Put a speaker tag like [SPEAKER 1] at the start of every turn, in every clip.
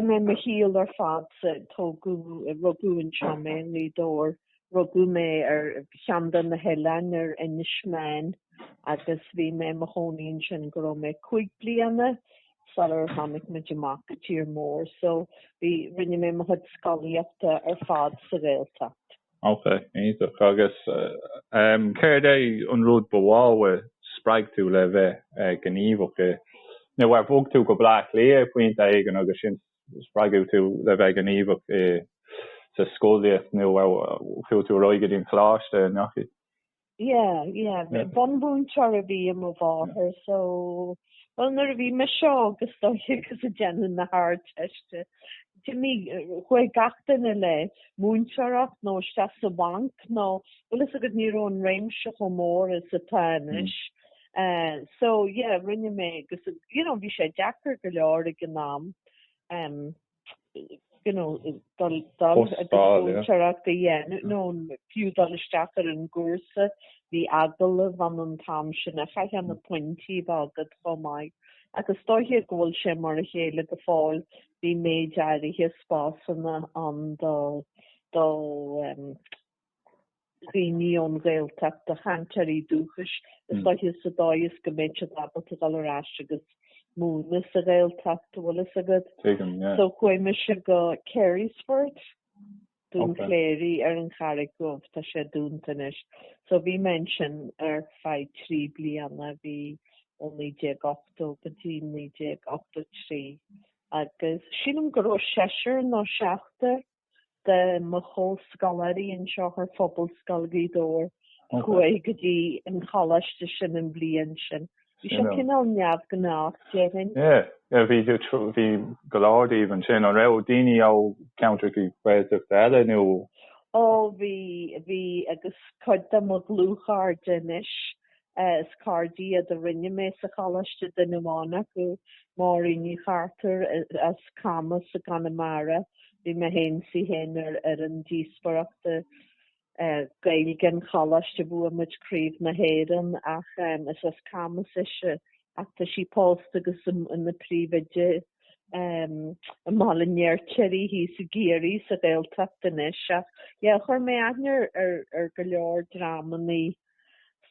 [SPEAKER 1] Chaith mé mo shaol ar fad sa, tógadh, rugadh anseo mé i nGaoth Dobhair, rugadh mé ar cheann de na hoileáin ar Inis Meáin agus bhí mé i mo chónaí ansin go raibh mé cúig bliana sular tháinig muid amach go tír mór so bhí, rinne mé mo chuid scolaíochta ar fad sa Ghaeltacht.
[SPEAKER 2] Ok, iontach. Agus ehm, céard é an rud ba mhó a spreag tú le bheith gníomhach i. nó ar bhog tú go Bleá Cliath pointe éigin agus ansin spreagadh tú le bheith gníomhach i sa scolaíocht nó chuaigh tú ar aghaidh go dtí an coláiste a ndeachaigh? Yeah
[SPEAKER 1] yeah bunmhúinteoir a bhí i mo mháthair so bhuel nuair a bhí mise is dóiche ag déanamh na hArdteiste d'imigh chuaigh gach duine le múinteoireacht nó isteach sa bhanc nó bhfuil a fhios agat ní raibh an réimse chomh mór is atá anois eh so yeah rinne mé agus you know bhí sé deacair go leor ag an am. you know, níl a fhios agam nó fiú dul isteach ar an gcúrsa, bhí agallamh ann an t-am sin agus chaithfeá na pointí a bheith agat chomh maith. Ach is dóiche go bhfuil sé mar a chéile go fóill, bhí méid áirithe spásanna ann do, do, dhaoine ón Ghaeltacht, do chainteoirí dúchais, is dóiche sa dóigh is go mbeidh siad ábalta dul ar ais agus múineadh sa Ghaeltacht, an bhfuil a fhios agat. Tuigim, yeah. So chuaigh mise go Carysfort, Dún okay. Laoghaire ar an Charraig Dhubh, tá sé dúnta anois. So bhí mé ansin ar feadh trí bliana, bhí ó 1980 go dtí 1983. Agus sílim go raibh seisear nó seachtar de mo chomhscoláirí anseo ó Phobalscoil Ghaoth Dobhair a chuaigh go dtí an choláiste sin an bhliain sin. Bhí sé cineál neamhghnách déarfainn. Yeah,
[SPEAKER 2] bhí bhí go leor díobh ansin. An raibh daoine ó cheantracha Gaeltachta eile nó? Ó bhí,
[SPEAKER 1] bhí agus cuid de mo dhlúthchairde anois Is cairde iad a rinne mé sa Choláiste duine amháin acu, Máirín Ní Chartúir as Camas i gConamara. Bhí mé fhéin is í fhéin ar fhoireann díospóireachta Gaeilge an Choláiste. Bhuaigh muid Craobh na hÉireann ach is as Camas ise ach tá sí pósta agus ina príomhoide i mBaile an Fheirtéaraigh thíos i gCiarraí sa Ghaeltacht anois. Ach yeah chuir mé aithne ar go leor dreamanna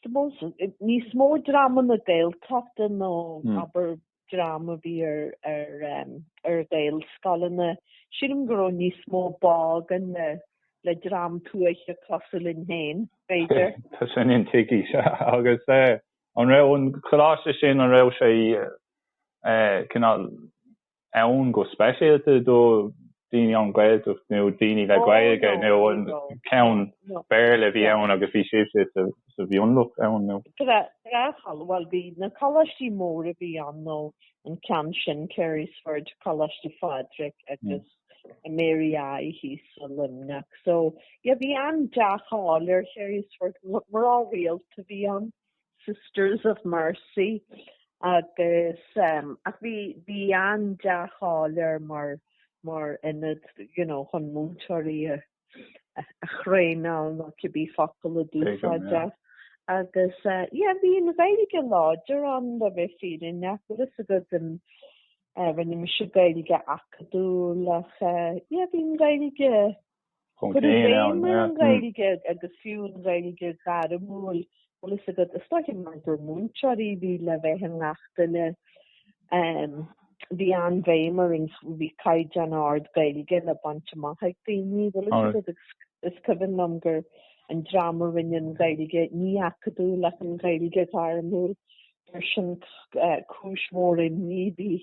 [SPEAKER 1] suppose níos mó dream na Gaeltachta nó abair dream a bhí ar ar em ar Ghaelscoileanna sílim go raibh níos mó báidh againn le le dream tuaithe cosúil linn féin b'fhéidir. Tá sin
[SPEAKER 2] intuigthe agus eh an raibh an coláiste sin an raibh sé eh cineál ann go speisialta do dhaoine na Gaeltachta nó daoine le Gaeilge nó an ceann Béarla a bhí ann agus bhí sibhse sa mhionlach ann nó. Bhuel
[SPEAKER 1] bhí na coláistí móra a bhí ann nó an ceann sin, Carysford, Coláiste Phádraig agus Mary I thíos i Luimneach. So, yeah, bhí an-dea-cháil ar Charysford, mná rialta a bhí ann. Sisters of Mercy agus ach bhí bhí an dea-cháil air mar mar ionad you know chun múinteoirí a a thraenáil nó cibé focal a d'úsáideadh agus yeah bhí an Ghaeilge láidir ann le bheith fírinneach bhfuil fhios agat rinne mise Gaeilge acadúil ach yeah bhí an Ghaeilge Bhí an-bhéim ar an Ghaeilge agus fiú an Ghaeilge ghairmiúil, bhfuil fhios agat, is dócha mar gur múinteoirí a bhí le bheith i ngach duine, bhí an-bhéim ar an, bhí caighdeán ard Gaeilge le baint amach ag daoine, bhfuil fhios agat, agus is cuimhin liom gur an dream a rinne an Ghaeilge, ní acadúil ach an Ghaeilge ghairmiúil, gur sin cúis mhór imní a.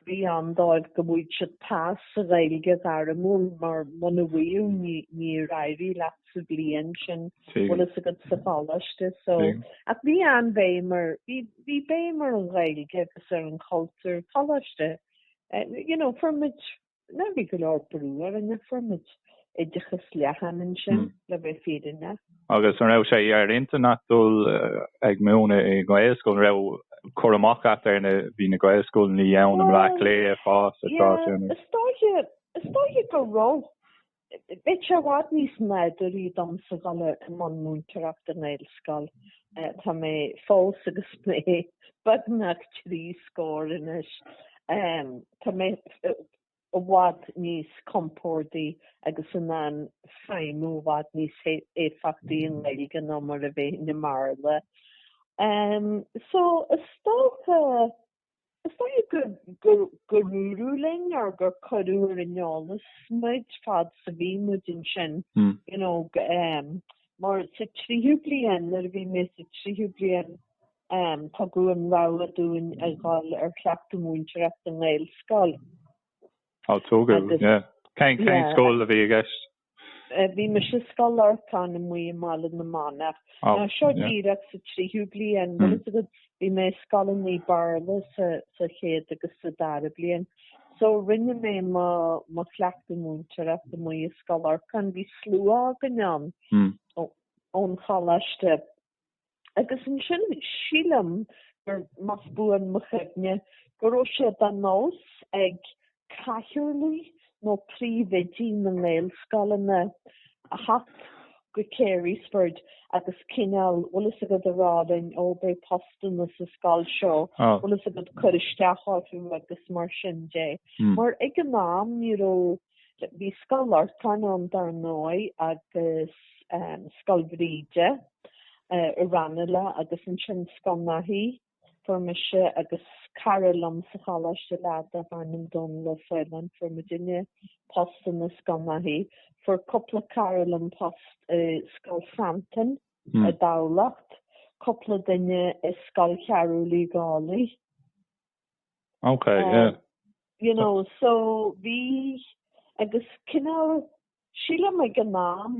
[SPEAKER 1] bhí ann dóibh go bhfaigheadh siad pas sa Ghaeilge ghairmiúil mar muna bhfaigheadh ní níor éirigh leat sa bhliain sin bhfuil fhios agat sa choláiste so ach bhí an-bhéim ar bhí bhí béim ar an Ghaeilge agus ar an cultúr sa choláiste eh, you know, fuair muid Ná bhí go leor brú ar an fuair muid oideachas leathan ansin le bheith fírinne. Agus an raibh sé
[SPEAKER 2] ar intinn agat dul ag múineadh i nGaelscoil? An raibh cur amach agat ar na, bhí na Gaelscoileanna ann i mBleá Cliath, ag fás an t-am sin? Is dócha,
[SPEAKER 1] is dócha go raibh. Bheadh sé i bhfad níos nádúraí domsa dhul i mbun múinteoireachta i nGaelscoil. Tá mé fós agus mé beagnach trí scór anois. Tá mé i bhfad níos compórdaí agus in ann feidhmiú i bhfad níos éifeachtaí i nGaeilge ná mar a bheinn i mBéarla. So is dócha. Is dócha gur dúradh linn or gur cuireadh ar an eolas muid fad 's a bhí muid ansin you know mar sa tríú bliain nuair a bhí mé sa tríú bliain tugadh an rogha dúinn a dhul ar chleachtadh múinteoireachta i nGaelscoil. Á
[SPEAKER 2] tugadh yeah. Cén scoil a bhí i gceist? Bhí
[SPEAKER 1] mise i Scoil Lorcáin amuigh i mBaile na Manach. Oh, Ná seo yeah. díreach sa tríú bliain, bhfuil fhios agat bhí mé i scoileanna Béarla sa, sa chéad agus sa dara bliain. So rinne mé mo, mo chleachtadh múinteoireachta amuigh i Scoil Lorcáin. Bhí slua againn ann ón choláiste. agus ansin sílim gur, más buan mo chuimhne, go raibh sé de nós ag cathaoirligh nó príomhoidí na nGaelscoileanna a theacht go Carysford agus cineál bhfuil fhios agat a rá linn ó beidh postanna sa scoil seo, bhfuil fhios agat cuir isteach orthu agus mar sin de. Hmm. Mar ag an am ní raibh Bhí Scoil Lorcáin ann dar ndóigh agus Scoil Bhríde i Ranelagh agus ansin Scoil Naithí. Fuair mise agus cara liom sa choláiste leaid darbh ainm Dónall Ó Faoláin. Fuair muidinne postanna i Scoil Naithí. Fuair cúpla cara liom post i Scoil Santain i dTamhlacht. Cúpla duine i Scoil Chearbhaill Uí Dhálaigh. Ok
[SPEAKER 2] yeah. You know
[SPEAKER 1] so bhí agus cineál sílim ag an am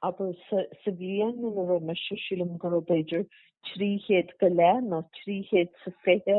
[SPEAKER 1] abair sa bhliain ina raibh mise sílim go raibh b'fhéidir trí chéad go leith nó trí chéad is a fiche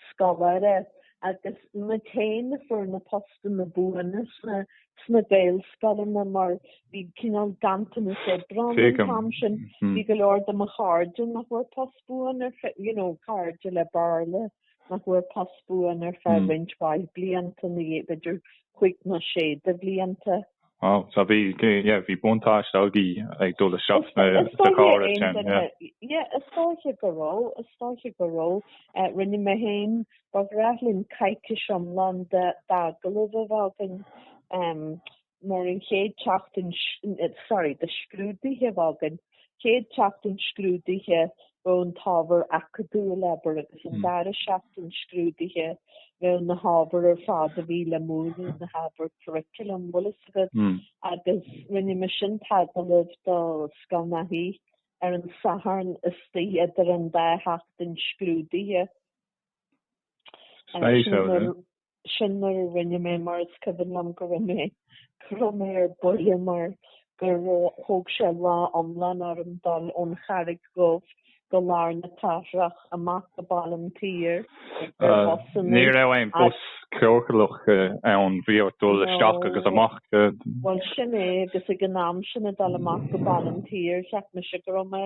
[SPEAKER 1] scoláire agus na téin a fuair na postanna buana sna sna Gaelscoileanna mar bhí cineál ganntanas oibre an t-am sin. Bhí go leor de mo chairde nach bhfuair post buan ar feadh, you know, cairde le Béarla nach bhfuair post buan ar feadh roinnt mhaith blianta ina dhiaidh, b'fhéidir cúig nó sé de bhlianta. Wow, so
[SPEAKER 2] bhí, yeah, bhí buntáiste agaibh ag dul isteach sna, sa chóras sin, yeah. Yeah, is dóiche go raibh, is dóiche go raibh. Rinne mé fhéin Ba ghnách linn coicís iomlán d'agallamh a bheith againn mar an chéad tseachtain, sorry, de scrúduithe a bheith againn, chéad tseachtain scrúduithe bheadh an t-ábhar acadúil abair agus an dara seachtain scrúduithe bheadh na hábhair ar fad a bhí le múineadh na hábhair curriculum bhfuil fhios agat agus rinne mise an t-agallamh do Scoil Naithí ar an Satharn istigh idir an dá sheachtain scrúduithe Sin mar a rinne mé mar is cuimhin liom go raibh mé go raibh mé ar buile mar go raibh thóg sé lá iomlán orm dul ón Charraig Dhubh go lár na cathrach amach go Baile an tSaoir. Ní raibh aon bus ciorclach ann, bhí ort dul isteach agus amach. Bhuel sin
[SPEAKER 1] é agus ag an am sin ag dul amach go Baile an tSaoir cheap mise go raibh mé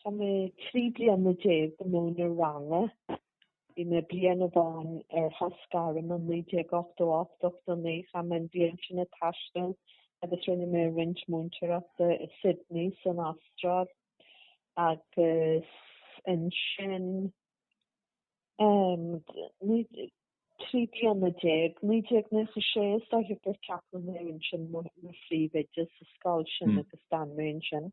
[SPEAKER 1] Chaith mé trí bliana déag ag múineadh ranga. Bhí mé bliain amháin ar shos gairme i 1988, 89, chaith mé an bhliain sin ag taisteal agus rinne mé roinnt múinteoireachta i Sydney san Astráil agus ansin, trí bliana déag, 1996 is dóiche gur ceapadh mé ansin mar phríomhoide sa scoil sin agus d'fhan mé ansin.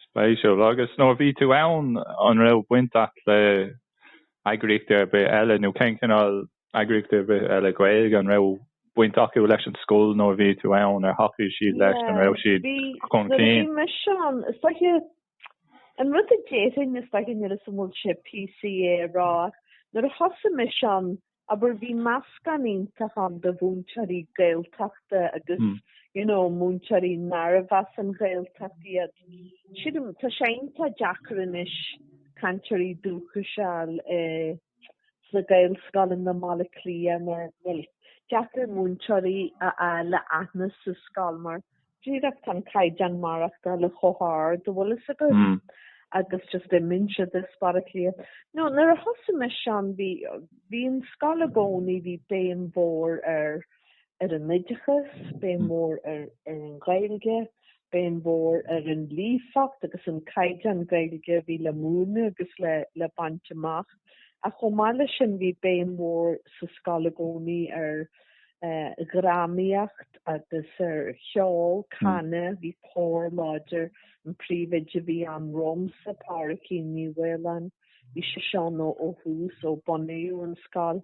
[SPEAKER 1] Spéisiúil.
[SPEAKER 2] Agus nuair a bhí tú ann an raibh baint a't le heagraíochtaí ar bith eile nó cén cineál eagraíochtaí ar bith eile Gaeilge an raibh baint acu leis an scoil nuair a bhí tú ann, ar thacaigh siad leis, an raibh siad chun cinn? Nuair a bhí mise ann, is
[SPEAKER 1] dóiche. An rud a déarfainn is dóiche níl fhios a'm an bhfuil sé PC é a rá, nuair a thosaigh mise ann, abair, bhí meascán iontach ann de mhúinteoirí Gaeltachta agus, you know, múinteoirí nárbh as an Ghaeltacht iad. Sílim, tá sé iontach deacair anois cainteoirí dúchais a fháil i, sna Gaelscoileanna i mBaile Átha Cliath nó, bhuel, deacair múinteoirí a fháil le haghaidh aon scoil mar, díreach tá an caighdeán maireachtála chomh hard, an bhfuil fhios agat agus just muintir de Baile Átha Cliath. No, nuair a thosaigh mise ann bhí bhí an scoil i gcónaí, bhí béim mhór ar ar an oideachas, béim mhór ar ar an Ghaeilge, béim mhór ar an líofacht agus an caighdeán Gaeilge a bhí le múineadh agus le le baint amach. Ach chomh maith leis sin bhí béim mhór sa scoil i gcónaí ar dhrámaíocht agus ar cheol, canadh, bhí cór láidir, an príomhoide a bhí ann romsa, Pádraicín Ní Mhaoláin, bhí sise ann ó thús ó bunaíodh an scoil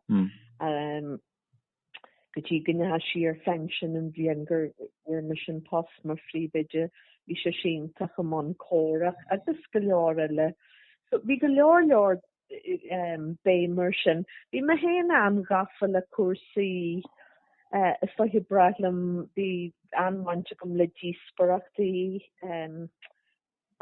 [SPEAKER 1] go dtí go ndeachaigh sí ar phinsean an bhliain go bhfuair mise an post mar phríomhoide, bhí sise iontach i mbun córacha agus go leor eile. So bhí go leor leor béim air sin. Bhí mé féin an-ghafa le cúrsaí. Is dóiche ba bhreá liom, bhí an-bhaint agam le díospoireachtaí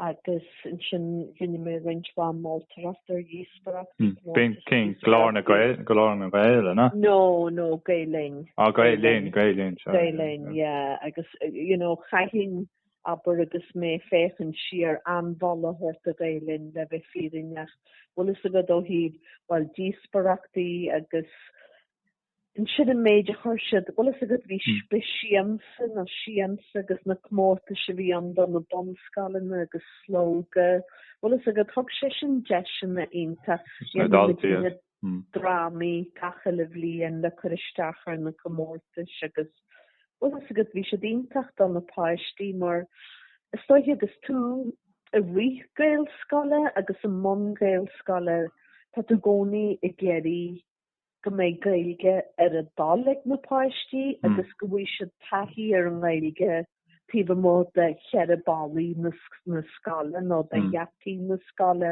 [SPEAKER 1] agus ansin rinne mé roinnt mhaith moltoireacht ar dhíospoireachtaí. B'in
[SPEAKER 2] cinn Glór na Gael, Glór na nGael, an ea? No, no, Gael
[SPEAKER 1] Linn. Ah, Gael Linn, Gael Linn,
[SPEAKER 2] sorry. Gael Linn, yeah,
[SPEAKER 1] agus, you know, chaithfinn, abair, agus mé ag féachaint siar, an-mholadh a thabhairt do Gael Linn, le bheith fírinneach, bhfuil fhios agat, ó thaobh, bhuel, díospoireachtaí agus ansin an méid a chur siad, bhfuil fhios agat, bhí Siamsa nó siansa agus na comórtais a bhí ann do na bunscoileanna agus Slógadh, bhfuil fhios agat, thug sé sin deiseanna iontach do na daltaí. drámaí gach uile bhliain le cur isteach ar na comórtais agus bhfuil fhios agat bhí siad iontach do na páistí mar is dóiche agus tú ag rith Gaelscoile agus i mbun Gaelscoile tá tú i gcónaí ag iarraidh go mbeidh Gaeilge ar a dtoil ag na páistí agus go bhfaighidh siad taithí ar an nGaeilge taobh amuigh de cheithre bhalla na scoile nó de gheataí na scoile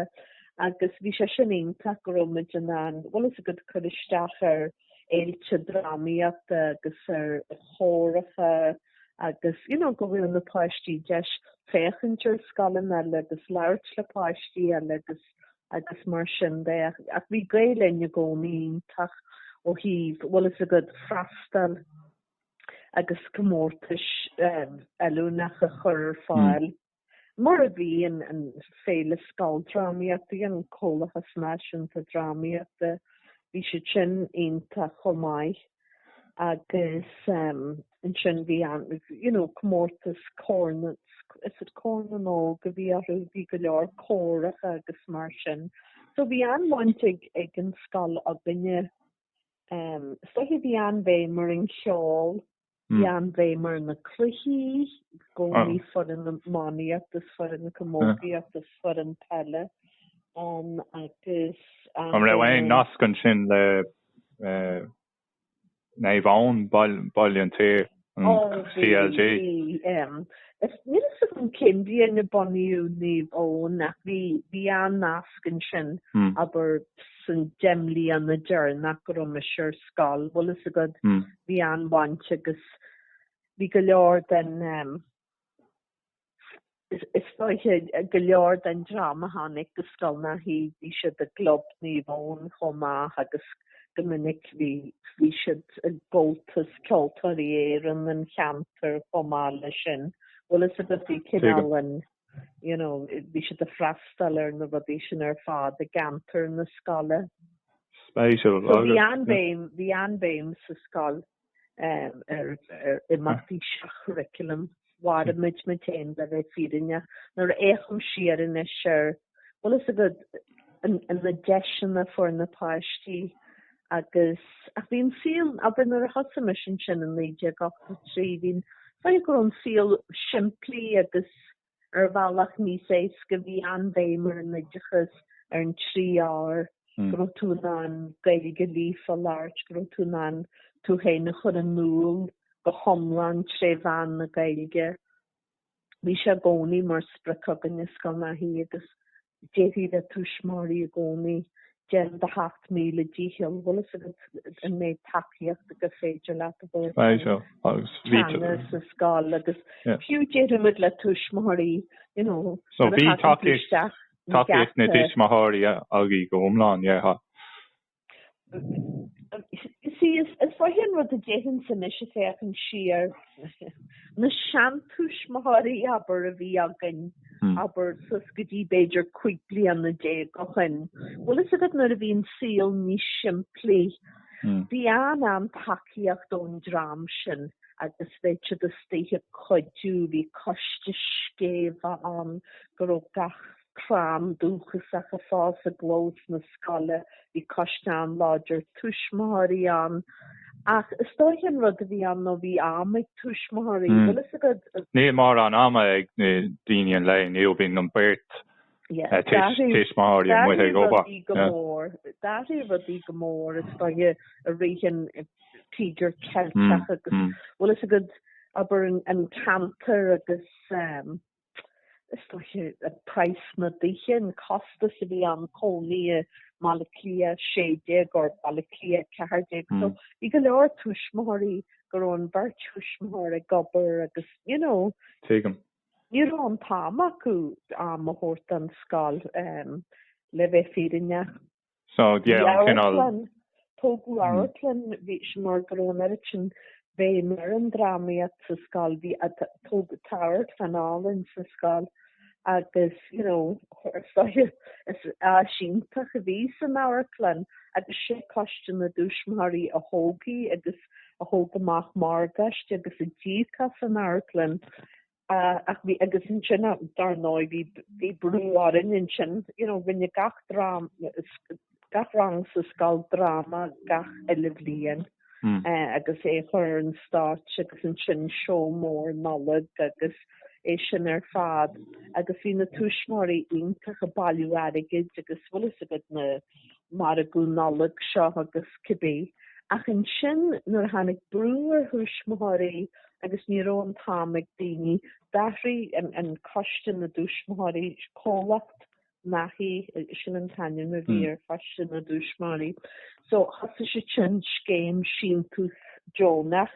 [SPEAKER 1] agus bhí sé sin iontach go raibhimid in ann, bhfuil a fhios agat cur isteach ar fhéilte drámaíochta agus ar chóracha agus you know go bhfuair na páistí deis féachaint ar scoileanna eile agus labhairt le páistí eile agus agus mar sin de ach bhí Gael Linn i gcónaí iontach ó thaobh bhfuil a fhios agat freastal agus comórtais fheiliúnacha a chur ar fáil, mar a bhí, an Féile Scoildrámaíochta, bhí an Comhlachas Náisiúnta Drámaíochta, bhí siad sin iontach chomh maith agus ansin bhí an, you know, comórtas Cór na, is it Corn na nÓg a bhí air, bhí go leor córacha agus mar sin. So bhí an-bhaint ag an scoil againne Ehm, is dóiche bhí an-bhéim ar an cheol, bhí hmm. an-bhéim ar na cluichí, i gcónaí ah. foireann iománaíochta is foireann camógaíochta ah. is foireann peile um, agus... Um,
[SPEAKER 2] An raibh aon nasc ansin le uh, Naomh Eoin, Baile an tSaoir? CLG. CLG. Níl
[SPEAKER 1] fhios agam cén bhliain a bunaíodh Naomh Eoin ach bhí bhí an-nasc ansin abair sna deich mbliana deireanach go raibh mise ar scoil. Bhfuil a fhios agat bhí an-bhaint agus bhí go leor den Is dóiche go leor den dream a tháinig go Scoil Naithí bhí siad i gClub Naomh Eoin chomh maith agus go minic bhí siad i gComhaltas Ceoltóirí Éireann an cheantair chomh maith leis sin. Bhfuil a fhios agat bhí cineál an you know bhí siad ag freastal ar na rudaí sin ar fad i gceantar na scoile. Spéisiúil. So bhí an-bhéim bhí an-bhéim sa scoil. ar imeachtaí seach-churriculum mharaíomar muid féin le bheith fírinneach. Nuair a fhéachaim siar anois ar bhfuil a fhios agat na deiseanna a fuair na páistí agus ach bhí an saol abair nuair a thosaigh mise ansin in 1983 bhí déarfá go raibh an saol simplí agus ar bhealach níos éasca. Bhí an-bhéim ar an oideachas, ar na trí R, go raibh tú in ann Gaeilge líofa a labhairt, go raibh tú in ann tú féin a chur in iúl go hiomlán tré mheán na Gaeilge. Bhí sé i gcónaí mar sprioc againn i Scoil Naithí agus Déarfaí le tuismitheoirí i gcónaí. Déan do sheacht míle dícheall. Bhfuil a fhios agat an méid tacaíochta gur féidir leat a thabhairt don teanga sa scoil agus fiú deirimid le tuismitheoirí you know
[SPEAKER 2] nuair a thagann tú isteach. Tacaíocht na dtuismitheoirí agaibh go hiomlán, yeah.
[SPEAKER 1] see is dóiche an rud a d'fheicfinn anois ag féachaint siar, na seantuismitheoirí abair a bhí againn abair suas go dtí b'fhéidir cúig bliana déag ó shoin. Bhfuil fhios agat nuair a bhí an saol níos simplí bhí an-tacaíocht ón dream sin agus bheadh siad istigh ag cuidiú bhí coiste scéimhe ann go raibh gach crann dúchasach ag fás i gclós na scoile. Bhí coiste an-láidir tuismitheoirí ann. Ach is dóiche an rud a bhí ann nó bhí am ag tuismitheoirí, bhfuil fhios agat. Níl mórán
[SPEAKER 2] ama ag na daoine an lae inniu, bíonn an beirt tuismitheoirí amuigh ag obair.
[SPEAKER 1] D'athraigh rudaí go mór is dóiche i rith an Tíogar Ceilteach agus bhfuil fhios agat, abair an ceantar agus. is dóiche, praghas na dtithe, an costas a bhí ann, cónaí i mBaile Átha Cliath 16 nó Baile Átha Cliath 14. So bhí go leor tuismitheoirí go raibh an bheirt thuismitheoir ag obair agus you know.
[SPEAKER 2] Tuigim. Ní raibh
[SPEAKER 1] an t-am acu am a thabhairt don scoil le bheith fírinneach. So
[SPEAKER 2] yeah an cineál.
[SPEAKER 1] Amharclann, tógadh amharclann, bhí sé mar go raibh an oiread sin béim ar an drámaíocht sa scoil, bhí, tógadh amharclann álainn sa scoil agus you know chuir soithigh, is áis iontach a bhí san amharclann agus sé coiste na dtuismitheoirí a thóg í agus a thóg amach morgáiste agus a d'íoc as an amharclann. Ach bhí, agus ansin dar ndóigh bhí, bhí brú orainn ansin, you know, rinne gach drám, gach rang sa scoil dráma gach uile bhliain agus é a chur ar an stáitse agus ansin seó mór Nollag agus é sin ar fad agus bhí na tuismitheoirí iontach ag bailiú airgid agus bhfuil fhios agat na, Margadh Nollag seo agus cibé. Ach ansin nuair a tháinig brú ar thuismitheoirí agus ní raibh an t-am ag daoine, d'athraigh an coiste na dtuismitheoirí, Comhlacht Naithí, sin an t-ainm a bhí ar choiste na dtuismitheoirí. So thosaigh siad sin scéim síntiús deonach.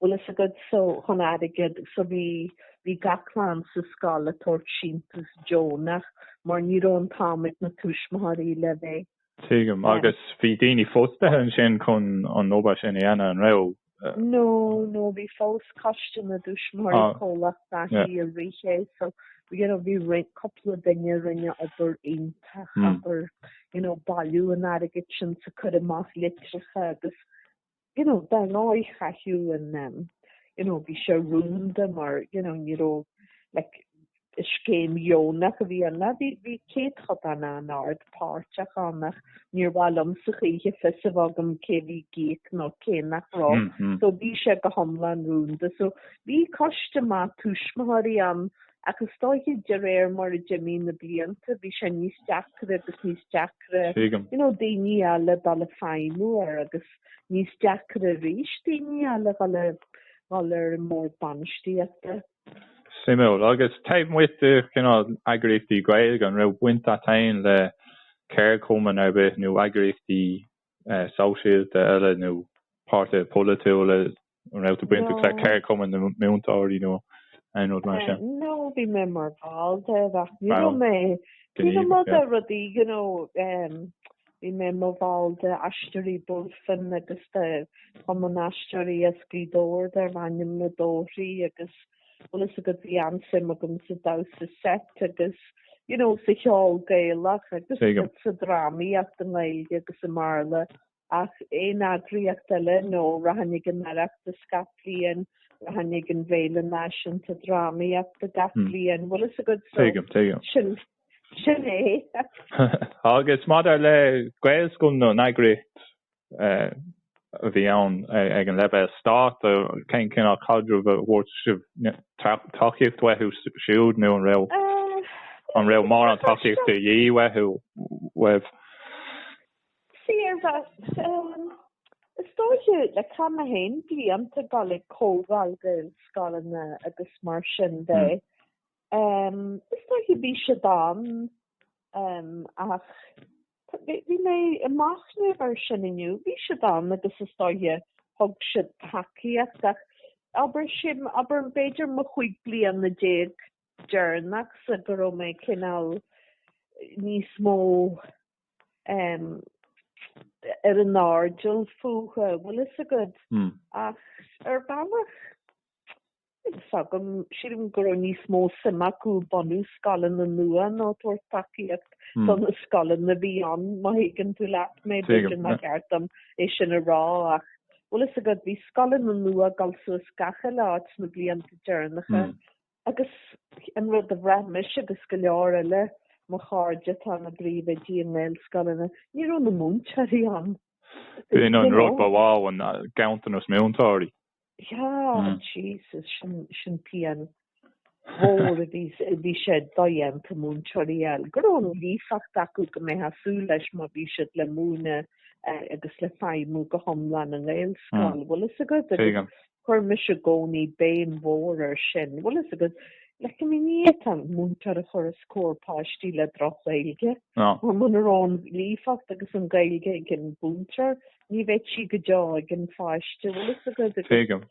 [SPEAKER 1] Bhfuil fhios agad so chun airgead so bhí bhí gach clann sa scoil ag tabhairt síntiús deonach mar ní raibh an t-am ag na tuismitheoirí le bheith Tuigim. Agus
[SPEAKER 2] bhí daoine fostaithe ansin chun an obair sin a dhéanamh, an raibh? No,
[SPEAKER 1] no, bhí fós Coiste na dTuismitheoirí Comhlacht Naithí a rith é so you know bhí roinnt cúpla duine a rinne obair iontach abair you know bailiú an airgid sin so cur amach litreacha agus you know, dar ndóigh chaithfeá um you know bhí sé rúnda mar you know ní raibh like scéim dheonach a bhí ann like bhí céatadán an-ard páirteach ann ach níor mhaith liom sa choíche fios a bheadh agam cé bhí ag íoc nó cé nach raibh mm-hmm. so bhí sé go hiomlán rúnda so bhí coiste maith tuismitheoirí ann Ach is dóiche de réir mar a d'imigh na blianta bhí sé níos deacra agus níos deacra, you know, daoine a fháil le feidhmiú air agus níos deacra arís daoine a fháil le dhul ar an mbord bainistíochta.
[SPEAKER 2] Suimiúil. Agus taobh amuigh de chineál eagraíochtaí Gaeilge an raibh baint agat féin le ceardchumann ar bith nó eagraíochtaí sóisialta eile nó páirtithe polaitiúla, an raibh tú bainteach le Ceardchumann na Múinteoirí nó aon rud mar sin? No, bhí mé mar
[SPEAKER 1] bhall de ach ní raibh mé gníomhach nó rudaí. No, bhí mé i mo bhall de Aisteoirí Bulfin agus de Chumann Aisteoirí is Scríbhneoirí darb ainm Na Dóirí agus bhfuil fhios agat bhí an-suim agam sa damhsa seit agus you know sa cheol Gaelach agus sa drámaíocht i nGaeilge agus i mBéarla ach aon eagraíocht eile no rachainn ag an Oireachtas gach bliain rachainn ag an bhFéile Náisiúnta Drámaíochta gach bliain bhfuil fhios agat so sin sin é.
[SPEAKER 2] Agus maidir le Gaelscoileanna an eagraíocht a bhí ann ag an leibhéal stáit, cén cineál caidreamh an bhfuair sibh tacaíocht uathu siúd nó an raibh an raibh mórán tacaíocht de dhíth uathu uaibh?
[SPEAKER 1] Sea, ar bhealach. Is dóiche le cian na blianta ag dul ag comhdháil Gaelscoileanna agus mar sin de, is dóiche bhí siad ann ach. Bhí mé ag machnamh ar sin inniu. Bhí siad ann agus is dóiche thug siad tacaíocht ach abair sin, abair b'fhéidir mo chúig bliana déag deireanach sa go raibh mé cineál níos mó um, ar an airdeall fúthu, bhfuil fhios agat. Mm. Ach ar bhealach fhios agam, sílim, go raibh níos mó suim acu bunú scoileanna nua ná tabhairt tacaíocht do na scoileanna a bhí ann. Má thuigeann tú leat mé, b'fhéidir nach ceart dom é sin a rá ach, bhfuil fhios agat, bhí scoileanna nua ag dul suas gach uile áit sna blianta deireanacha agus an rud a bhraith mise agus go leor eile, de mo chairde atá ina bpríomhoidí i nGaelscoileanna, ní raibh na múinteoirí ann, you know. B'in an
[SPEAKER 2] rud ba mhaith, an ganntanas múinteoirí.
[SPEAKER 1] Yeah, Jesus, sin pian mhór a bhí, bhí sé dodhéanta múinteoirí a fháil. Go raibh an líofacht acu go mbeadh súil leis má bhí siad le múineadh agus le feidhmiú go hiomlán i nGaelscoil. Bhfuil a fhios agat agus chuir mise i gcónaí béim mhór ar sin. Bhfuil a fhios agat, le go mbíonn tú ag an múinteoir a chur os comhair páistí le droch-Ghaeilge. Mar muna raibh an líofacht agus an Ghaeilge ag an mhúinteoir, Ní bheidh sí go deo ag an pháiste. Bhfuil fhios agat agus. Tuigim.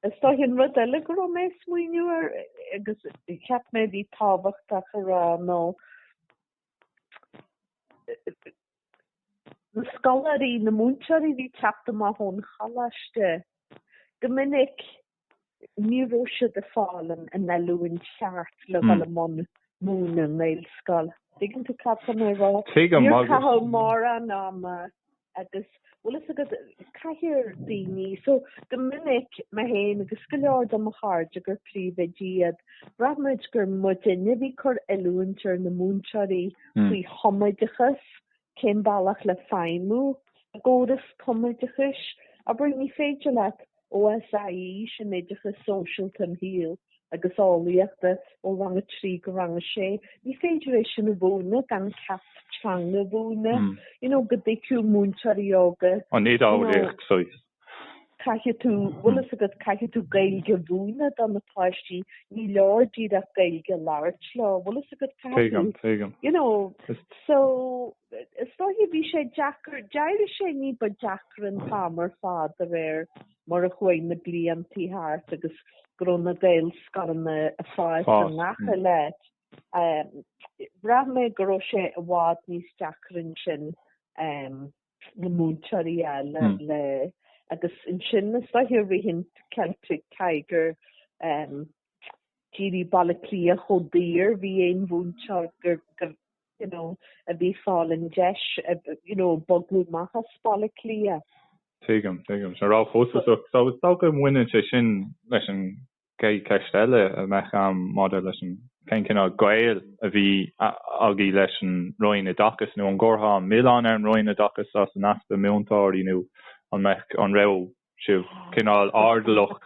[SPEAKER 1] Is dóichí an rud eile go raibh mé ag smaoineamh ar agus cheap mé a bhí tábhachtach a rá nó na scoláirí, na múinteoirí a bhí ag teacht amach ón choláiste go minic ní raibh siad a' fáil an an oiliúint cheart le dhul i mbun múineadh i nGaelscoil. Dtuigeann tú cad tá mé a' rá? Tuigim. Níor caitheadh mórán ama agus bhfuil fhios agat caithfear daoine, so go minic, mé fhéin agus go leor de mo chairde gur príomhoidí iad, bhraith muid gur muidinne a bhí ag cur oiliúint ar na múinteoirí faoi thumoideachas Cén bealach le feidhmiú i gcóras tumoideachais? Abair, ní féidir leat OSIE sin oideachas sóisialta imshaoil agus eolaíochta ó rang a trí go rang a sé, ní féidir é sin a mhúineadh gan ceacht teanga a mhúineadh, you know, go dtuigfeadh múinteoirí óga. An oideolaíocht,
[SPEAKER 2] saghas.
[SPEAKER 1] caithfidh tú, bhfuil fhios agat, caithfidh tú Gaeilge a mhúineadh do na páistí, ní leor díreach Gaeilge a labhairt leo, bhfuil fhios agat caithfidh. Tuigim, tuigim. You know, so, is dóichí bhí sé deacair, d'éirigh sé ní ba deacra an t-am ar fad de réir mar a chuaigh na bliantaí thart agus go raibh na Gaelscoileanna ag fás i ngach uile áit. Bhraith mé go raibh sé i bhfad níos deacra ansin. na múinteoirí a fháil agus ansin is dóichí i rith an Celtic Tiger ehm d'éirigh Baile Átha Cliath chomh daor bhí aon mhúinteoir gur gur you know a bhí ag fáil an deis you know bogadh amach as Baile Átha Cliath. Tuigim,
[SPEAKER 2] tuigim. So nach raibh chomh costasach, so is dócha go mbaineann sé sin leis an Chéad cheist eile a bheadh a'm maidir leis an cén cineál gaol a bhí agaí leis an Roinn Oideachais nó an gcuirtheá an milleán ar an Roinn Oideachais as an easpa múinteoirí nó an mbeadh, an raibh sibh cineál airdeallach?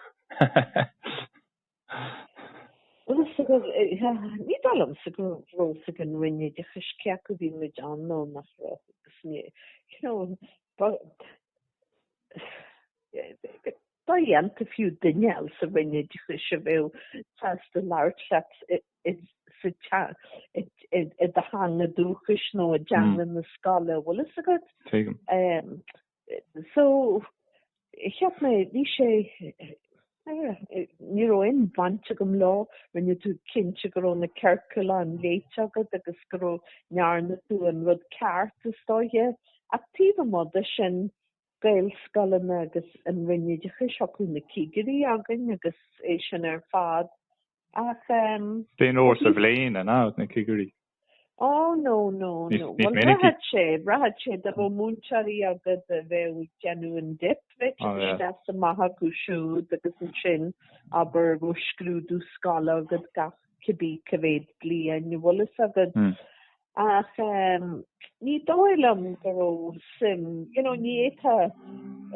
[SPEAKER 1] Ní dóigh liomsa go raibh a fhios ag an Roinn Oideachais cé acu bhí muid ann nó nach raibh agus ní, you know, dodhéanta fiú duine eile sa Roinn Oideachais a bheadh sásta labhairt leat i do theanga dúchais nó i dteanga na scoile a bhfuil fhios agat. Tuigim. So cheap mé bhí sé ní raibh aon bhaint agam leo rinne tú cinnte go raibh na ciorcláin léite agat agus go ndearna tú an rud ceart is dóiche ach taobh amuigh de sin Gaelscoileanna agus an Roinn Oideachais, thiocfadh na cigirí againn agus é sin ar fad ach ehm. Cén
[SPEAKER 2] uair sa bhliain an ea na cigirí? Ó
[SPEAKER 1] no, no, no, bhuel bhraithfeadh sé, bhraithfeadh sé dá raibh múinteoirí agat a bheadh ag déanamh an dip, bheadh siad isteach is amach chucu siúd agus ansin abair go raibh scrúdú scoile agat gach cibí cé mhéad bliain a bhfuil fhios agad. Ach ehm ní dóigh liom go raibh suim, you know, ní fhéadfá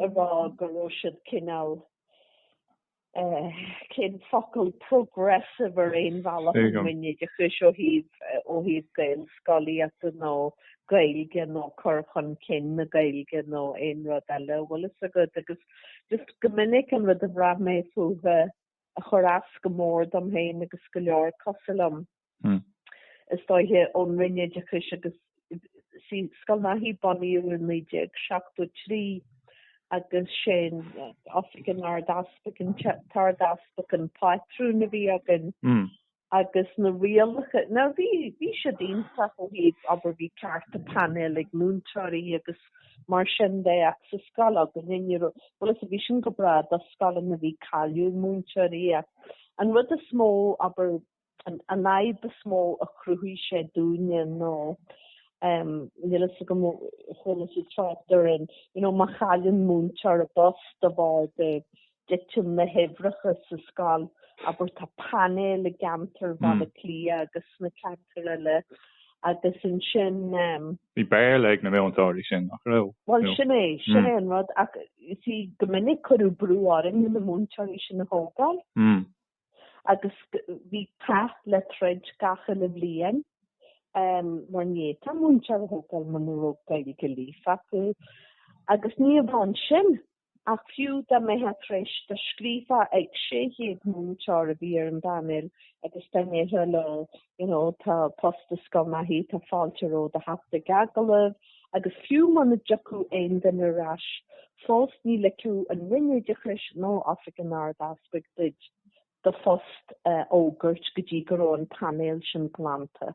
[SPEAKER 1] a rá go raibh siad cineál eh cén focal, progressive ar aon bhealach an Roinn Oideachais ó thaobh ó thaobh Gaelscolaíochta nó Gaeilge nó cur chun cinn na Gaeilge nó aon rud eile a bhfuil fhios agat agus just go minic an rud a bhraith mé fúthu a chur as go mór dom féin agus go leor cosúil liom is dóiche ón Roinn Oideachais agus Scoil Naithí bunaíodh i 1973 agus sé Oifig an Ard-Easpaig an tArd-Easpag an pátrún a bhí againn. agus na rialacha, now bhí, bhí siad iontach ó thaobh, abair bhí cearta painéil ag múinteoirí agus mar sin de ach sa scoil againne ní raibh, bhuel is a, bhí sin go breá do scoileanna a bhí ag cailliúint múinteoirí ach an rud is mó, abair, an, an fhadhb is mó a chruthaigh sé dúinne ná em níl a fhios agam ar chuala tú trácht ar an, you know má chailleann múinteoir a bpost de bharr de, dtiteann na huimhreacha sa scoil, abair tá painéal i gceantar Bhaile Átha Cliath agus sna ceantair eile agus ansin, em. Bhí Béarla
[SPEAKER 2] ag na múinteoirí sin, nach raibh? Bhuel, sin é, sin
[SPEAKER 1] é an rud ach you see go minic cuireadh brú orainn na múinteoirí sin a thógáil agus bhí cath le troid gach uile bhliain em mar ní fhéadfá múinteoir a thógáil muna raibh Gaeilge líofa acu agus ní amháin sin Ach fiú dá mbeithfeá tar éis dá scríobhfá ag 600 múinteoir a bhí ar an bpainéal agus dá ndéarfá leo you know tá post i Scoil Naithí tá fáilte romhat teacht ag agallamh agus fiú muna dtiocfadh aon duine ar ais fós ní ligfeadh an Roinn Oideachais nó Oifig an Ard-Easpaig duit do phost a fhógairt go dtí go raibh an painéal sin glanta.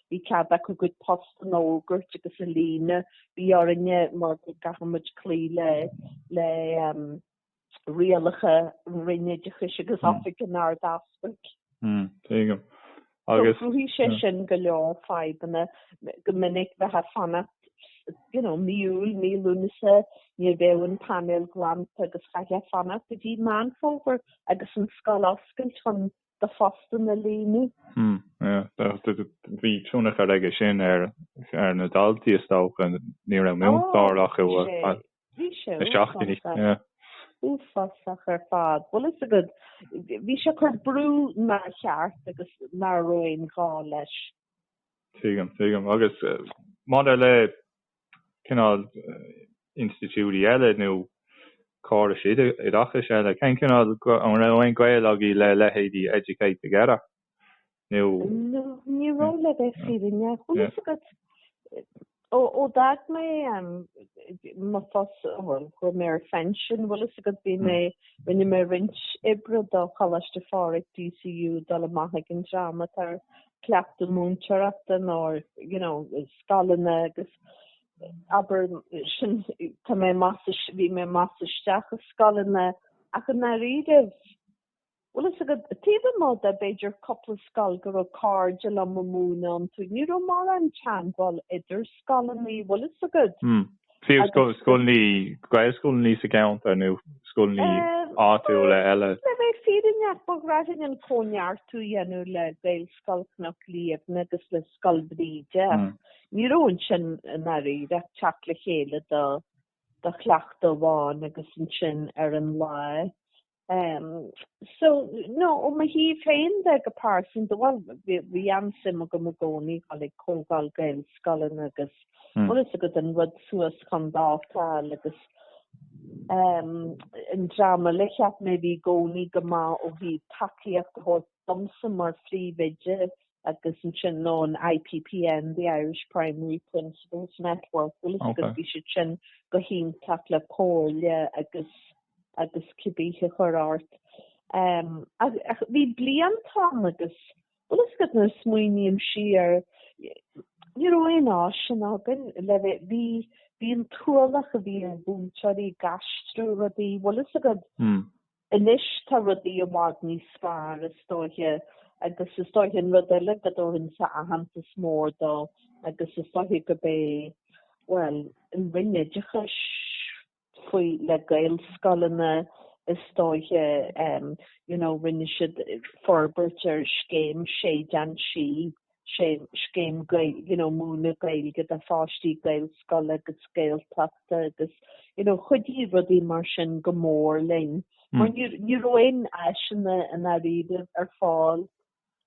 [SPEAKER 1] bhí cead acu a gcuid post a fhógairt agus a líonadh. Bhí orainne mar go gcaithfimid cloí le le rialacha an Roinn Oideachais agus Oifig an Ard-Easpaig. Tuigim.
[SPEAKER 2] Agus. Chruthaigh sé
[SPEAKER 1] sin go leor fadhbanna go minic bheith ag fanacht you know mí Iúil, mí Lúnasa, ní bheadh an painéal glanta agus chaithfeá fanacht go dtí Meán Fómhair agus an scoil oscailte chun do phostanna a líonadh. Hmm,
[SPEAKER 2] yeah. Bhí tionchar aige sin ar na daltaí is dócha, ní raibh múinteoir acu ar feadh seachtainí. Bhí sé uafásach.
[SPEAKER 1] Uafásach ar fad. Bhfuil 'fhios agat, bhí sé ag cur brú nár cheart agus ná raibh aon ghá leis. Tuigim,
[SPEAKER 2] tuigim. Agus maidir le cineál institiúidí eile nó córais oideachais eile, cén cineál, an raibh aon gaol agaibh le leithéidí Educate Together nó? No, ní
[SPEAKER 1] raibh le bheith fírinneach, bhfuil 'fhios agat. Ó d'fhág mé mo phost, bhuel, chuaigh mé ar phinsean, bhfuil 'fhios agat, bhí mé, rinne mé roinnt oibre do Choláiste Phádraig, DCU, dul amach ag an dream atá ar cleachtadh múinteoireachta nó you know scoileanna agus abair sin tá mé bhí mé amach is isteach i scoileanna ach i ndáiríre bhfuil 'fhios agat taobh amuigh de b'fhéidir cúpla scoil go raibh cairde liom ag múineadh iontu ní raibh mórán teagmháil idir scoileanna bhfuil 'fhios agat
[SPEAKER 2] Fiú scoileanna, Gaelscoileanna sa gceantar nó scoileanna áitiúla eile. Le bheith fírinneach,
[SPEAKER 1] ba ghnáth linn an Cóineartú a dhéanamh le Gaelscoil Chnoc Liamhna agus le Scoil Bhríde ach ní raibh ansin i ndáiríre ach teacht le chéile do chleachtadh amháin agus ansin ar an lá Um, so, no, ó mo thaobh féin de go pearsanta, bhuel bhí an-suim agam i gcónaí dul chuig comhdháil Gaelscoileanna agus bhfuil 'fhios agat an rud suas chun dáta a fháil agus um, an dream eile a cheap mé a bhí i gcónaí go maith ó thaobh tacaíocht a thabhairt domsa mar phríomhoide agus ansin ná an IPPN, the Irish Primary Principals Network, bhfuil 'fhios agat bhí siad sin go hiontach le comhairle agus agus cibé a chur ort. Um ach bhí blianta ann agus bhfuil 'fhios agat nuair a smaoiním siar ní raibh aon áiseanna againn le bheith bhí bhí an t-ualach a bhí ar mhúinteoirí ag aistriú rudaí bhfuil 'fhios agat Anois tá rudaí i bhfad níos fearr is dóiche agus is dóiche an rud eile go dtabharfainnse aitheantas mór dó agus is dóiche gurb é, bhuel, an Roinn Oideachais faoi, le Gaelscoileanna is dóiche em, you know rinne siad forbairt ar scéim Séideán Sí, sé scéim Gaeilge, you know, múineadh Gaeilge do pháistí Gaelscoile agus Gaeltachta agus, you know, chuidigh rudaí mar sin go mór linn. Mar níor, ní raibh aon áiseanna i ndáiríre ar fáil.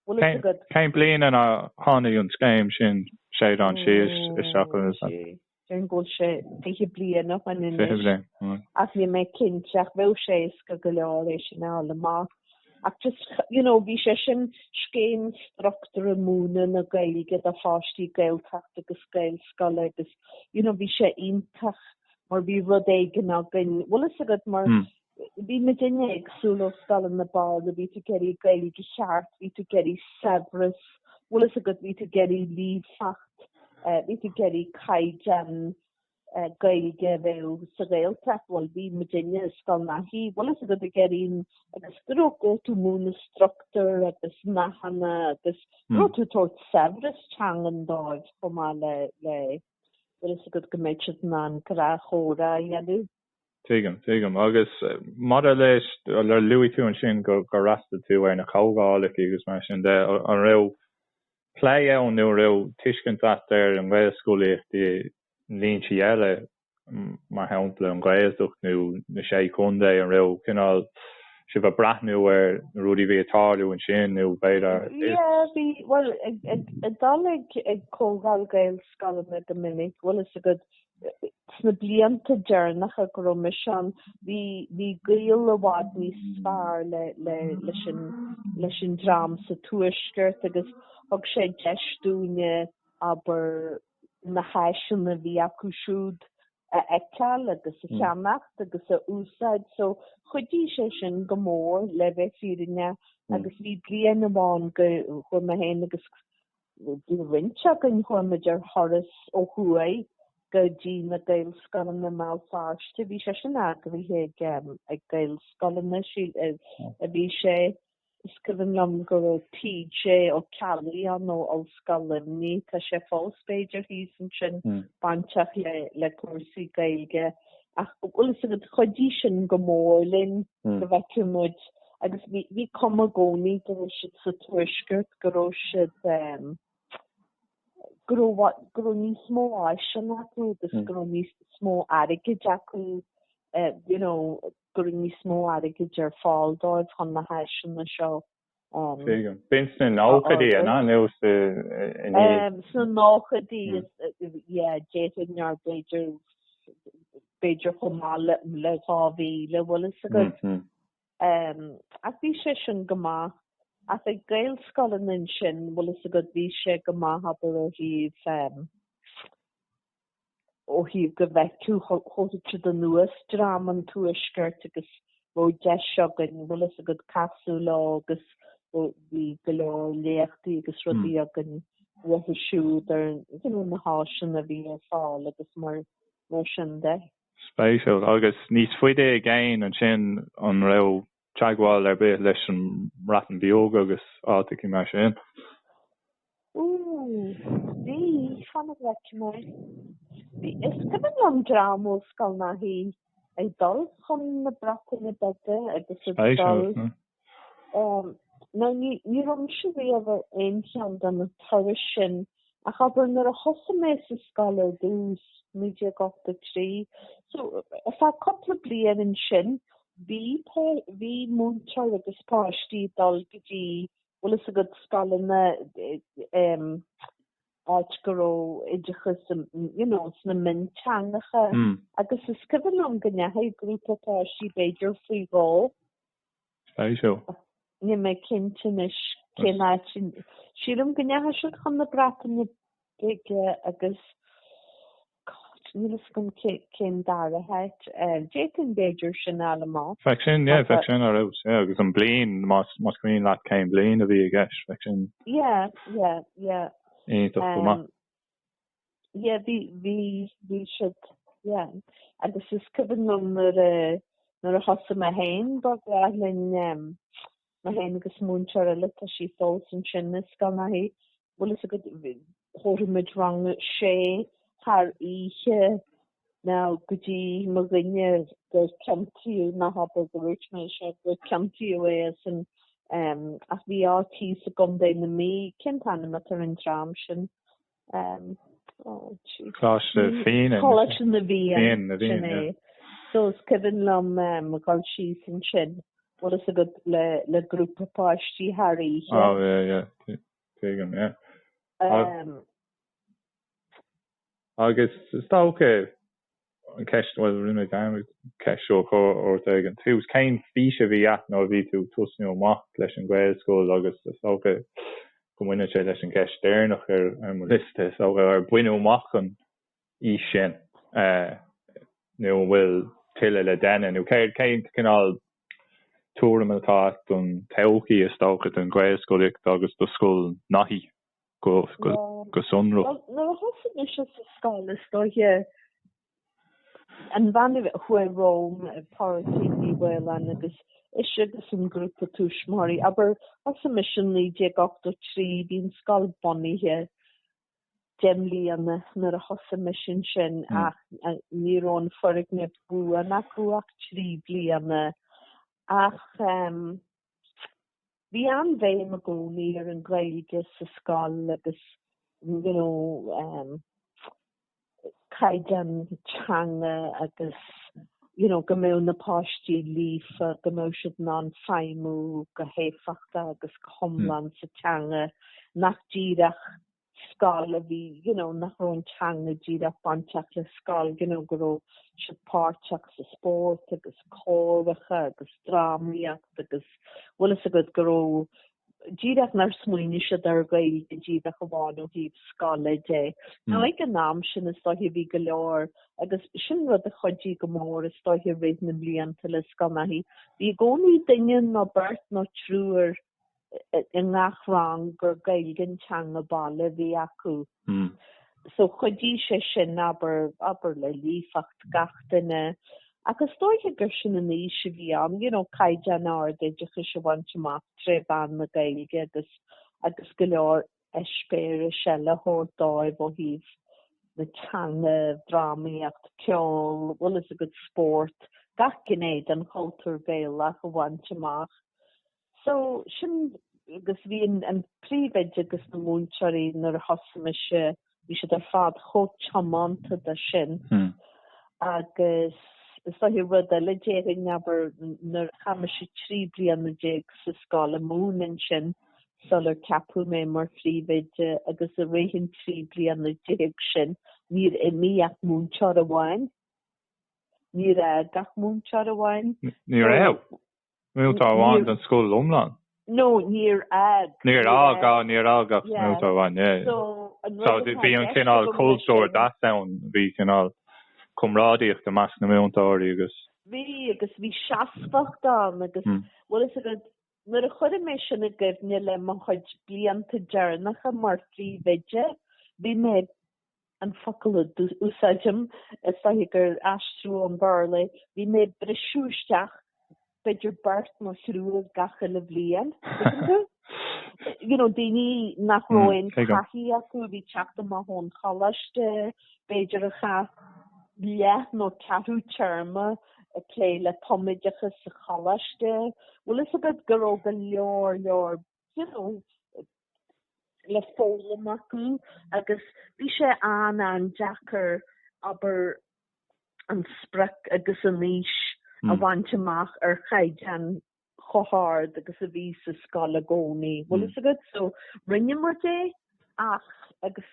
[SPEAKER 1] Bhfuil
[SPEAKER 2] fhios agat. Cén bliain ina tháinig an scéim sin, Séideán Sí isteach? Déarfainn go bhfuil
[SPEAKER 1] sé fiche bliain ó shin anois ach níl mé cinnte ach bheadh sé éasca go leor é sin a fháil amach. Ach just you know, bhí sé sin scéim struchtúrtha múineadh na Gaeilge do pháistí Gaeltachta agus Gaelscoile agus you know, bhí sé iontach mar bhí rud éigin againn, bhfuil fhios agat mar hmm. bhí muidne ag súil ó scoileanna, abair, a bhí tú ag iarraidh Gaeilge cheart, bhí tú ag iarraidh saibhreas, bhfuil fhios agat, bhí tú ag iarraidh líofacht, bhí tú ag iarraidh caighdeán Gaeilge a bheadh sa Ghaeltacht, bhuel bhí muidne i Scoil Naithí, bhfuil fhios agat, ag iarraidh agus go raibh tú ag múineadh struchtúr agus nathanna agus go raibh tú ag tabhairt saibhreas teangan dóibh chomh maith le, le, bhfuil fhios agat go mbeadh siad in ann gnáthchomhrá a dhéanamh. Tuigim,
[SPEAKER 2] tuigim. Agus maidir leis, luaigh tú ansin gur fhreastail tú ar na comhdhálacha agus mar sin de. An raibh plé ann nó an raibh tuiscint agat ar an Ghaelscolaíocht i ndlínsí eile, mar shampla an Ghaeltacht nó na Sé Chontae, an raibh, cineál, sibh a' breathnú ar na rudaí a bhí a' tarlú ansin nó b'fhéidir is. Yeah, bhí, bhuel ag
[SPEAKER 1] dul ag comhdháil Gaelscoileanna go minic, bhfuil 'fhios agat, sna blianta deireanacha go raibh mise ann, bhí, bhí gaol i bhfad níos fearr le, le, leis an, leis an dream sa Tuaisceart agus thug sé deis dúinn, abair, na háiseanna a bhí acu siúd a fheiceáil agus a cheannach agus a úsáid so chuidigh sé sin go mór le bheith fírinneach agus bhí bliain amháin go, chuaigh mé féin agus roinnt againn, chuaigh muid ar thuras ó thuaidh go dtí na Gaelscoileanna i mBéal Feirste, bhí sé sin eagraithe ag ag Gaelscoileanna, a bhí sé, is cuimhin liom go raibh TJ Ó Ceallaigh ann ó Ollscoil Luimnigh, tá sé fós b'fhéidir thíos ansin, bainteach le cúrsaí Gaeilge. ach bhfuil fhios agat chuidigh sin go mór linn go bhfeicfeadh muid agus bhí, bhí cuma i gcónaí go raibh siad sa Tuaisceart go raibh siad eh go raibh go raibh níos mó áiseanna acu agus go raibh níos mó airgid acu eh you know go raibh níos mó airgid ar fáil dóibh chun na háiseanna seo B'in sna nóchaidí, an ea? Nó sa naoi. Sna nóchaidí is yeah, d'fhéadfainn a rá b'fhéidir, b'fhéidir chomh maith le le dhá mhíle, bhfuil fhios agat. Ach bhí sé sin go maith. Ach ag Gaelscoileanna ansin, bhfuil fhios agat, bhí sé go maith abair ó thaobh ó thaobh go bhfeicfeadh thiocfadh siad anuas dream an tuaiscirt agus bheadh deis againn, bhfuil fhios agat, casadh leo agus bhí go leor léachtaí agus rudaí againn uathu siúd ar you know na háiseanna a bhí ar fáil agus mar mar sin de. Spéisiúil.
[SPEAKER 2] Agus níos faide i gcéin ansin an raibh teagmháil ar bith leis an mBreatain Bheag agus áiteacha mar sin. Ooh,
[SPEAKER 1] bhí, fan go bhfeicfidh mé, bhí, is cuimhin liom dream ó Scoil Naithí ag dul chun na Breataine Bige agus ag Spéisiúil, dul, is ea. em, now ní, ní raibh mise riamh ar aon cheann de na turais sin. Ach abair nuair a thosaigh mé sa scoil ar dtús, 1983, so ar feadh cúpla bliain ansin bhí, bhí múinteoir agus páistí ag dul go dtí, bhfuil fhios agat, scoileanna em áit go raibh oideachas you know sna mionteangacha agus is cuimhin liom go ndeachaigh grúpa páistí b'fhéidir faoi dhó,
[SPEAKER 2] Spéisiúil.
[SPEAKER 1] Níl mé cinnte anois cén áit. Sílim go ndeachaigh siad chun na Breataine Bige agus níl fhios agam cén dara háit. D'fhéadfainn b'fhéidir sin a fháil amach. Bheadh sin, yeah, bheadh
[SPEAKER 2] sin ar fheabhas, yeah, agus an bliain, más, más cuimhin leat cén bliain a bhí i gceist, bheadh sin. Yeah, yeah, yeah. Iontach go maith.
[SPEAKER 1] yeah bhí bhí bhí siad yeah agus is cuimhin liom nuair a nuair a thosaigh mé féin ba ghnách linn ehm mé féin agus múinteoir eile tá sí fós ansin i Scoil Naithí bhfuil fhios agat thabharfadh muid rang a sé thar oíche nó go dtí mo dhuine gur ciontaíodh ná habair gur dhúirt mé seo gur ciontaíodh é as an ehm ach bhí áit thíos i gContae na Mí cén t-ainm atá ar an dream sin um, oh, Coláiste Fiann. Coláiste na bhFiann. Sin é. So, is cuimhin liom um, gabháil síos ansin. Bhfuil fhios agat le, le grúpa páistí thar oíche. Oh, yeah,
[SPEAKER 2] yeah. Tuigim, yeah. Um, Agus is dócha an ceist, bhuel, rinne mé dearmad an cheist seo a chur ort ag an tús, cén fís a bhí a't nuair a bhí tú ag tosnú amach leis an Ghaelscoil agus is dócha go mbaineann sé leis an gceist deireanach ar mo liosta, is dócha, ar baineadh amach an fhís sin nó an bhfuil tuilleadh le déanamh nó céard, cén cineál tuairim atá a't don todhchaí, is dócha, don Ghaelscolaíocht agus do Scoil Naithí. go sonrach. Nuair a
[SPEAKER 1] thosaigh mise sa scoil, is dóiche an bhean a chuaigh romham, Pádraigín Ní Fhaoláin, agus ise agus an grúpa túismitheoirí, abair, thosaigh mise i 1983, bhí an scoil bunaithe deich mbliana nuair a thosaigh mise ansin ach ní raibh an foirgneamh buan acu ach trí bliana. Ach. Bhí an-bhéim i gcónaí ar an Ghaeilge sa scoil agus you know em caighdeán teanga agus you know go mbeadh na páistí líofa, go mbeadh siad in ann feidhmiú go héifeachtach agus go hiomlán sa teanga, nach díreach. scoil a bhí you know nach raibh an teanga díreach bainteach le scoil you know go raibh siad páirteach sa spórt agus córacha agus drámaíocht agus bhfuil a fhios agat go raibh díreach nár smaoinigh siad ar Ghaeilge díreach amháin ó thaobh scoile de. Mm. Now ag an am sin is dóiche bhí go leor agus sin rud a chuidigh go mór is dóiche i rith na mblianta le Scoil Naithí bhí i gcónaí duine nó beirt nó triúr i ngach rang gur Gaeilge an teanga baile a bhí acu so chuidigh sé sin abair, abair le líofacht gach duine ach is dóiche gur sin an fhís a bhí ann, you know caighdeán ard oideachais a bhaint amach tré mheán na Gaeilge agus, agus go leor eispéiris eile a thabhairt dóibh ó thaobh na teanga, drámaíocht, ceol, bhfuil a fhios agat spórt, gach gné den chultúr Gaelach a bhaint amach. So, sin, agus bhí an, an príomhoide agus na múinteoirí nuair a thosaigh mise, bhí siad ar fad chomh tiománta dó sin. Hmm. Agus is dóiche rud eile déarfainn abair nuair a chaith mise trí bliana déag sa scoil ag múineadh ansin sular ceapadh mé mar phríomhoide agus i rith an trí bliana déag sin níor imigh ach múinteoir amháin. Níor fhág ach múinteoir amháin. Níor fhág.
[SPEAKER 2] múinteoir amháin don scoil iomlán? No,
[SPEAKER 1] níor fhág. Níor fhág, á,
[SPEAKER 2] níor fhág ach múinteoir amháin, yeah, yeah. So, bhí an cineál cultúr, deas ann, bhí cineál comrádaíocht i measc na múinteoirí agus. Bhí, agus
[SPEAKER 1] bhí seasmhacht ann agus, bhfuil fhios agat, nuair a chuirim mé sin i gcoinne le mo chuid blianta deireanacha mar phríomhoide, bhí mé. an focal a d'úsáidim, is dóiche gur aistriú ón Bhearla é, bhí mé ag briseadh isteach b'fhéidir beirt nó thriúr gach uile bhliain, tuigeann tú? You know, daoine nach raibh aon taithí acu a bhí ag teacht amach ón choláiste, b'fhéidir a chaith leath nó ceathrú téarma ag plé le tumoideachas sa choláiste. Bhfuil fhios agat, a bheith, go raibh go leor leor you know, le foghlaim acu agus bhí sé an-an-deacair abair an sprioc agus an fhís a bhaint amach ar chaighdeán chomh hard agus a bhí sa scoil i gcónaí, bhfuil fhios agat. So rinne muid é Ach, agus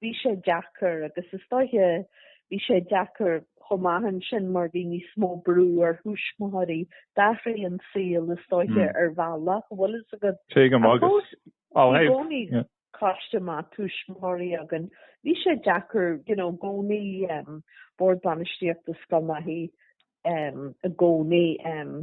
[SPEAKER 1] bhí sé deacair, agus is dóiche bhí sé deacair chomh maith ansin mar bhí níos mó brú ar thuismitheoirí, d'athraigh an saol is dóiche ar bhealach, a bhfuil fhios agat. Tuigim agus, ó thaobh. Ach fós, bhí i gcónaí coiste maith tuismitheoirí againn. Bhí sé deacair, you know, gcónaí, Bord Bainistíochta Scoil Naithí, um, i gcónaí um,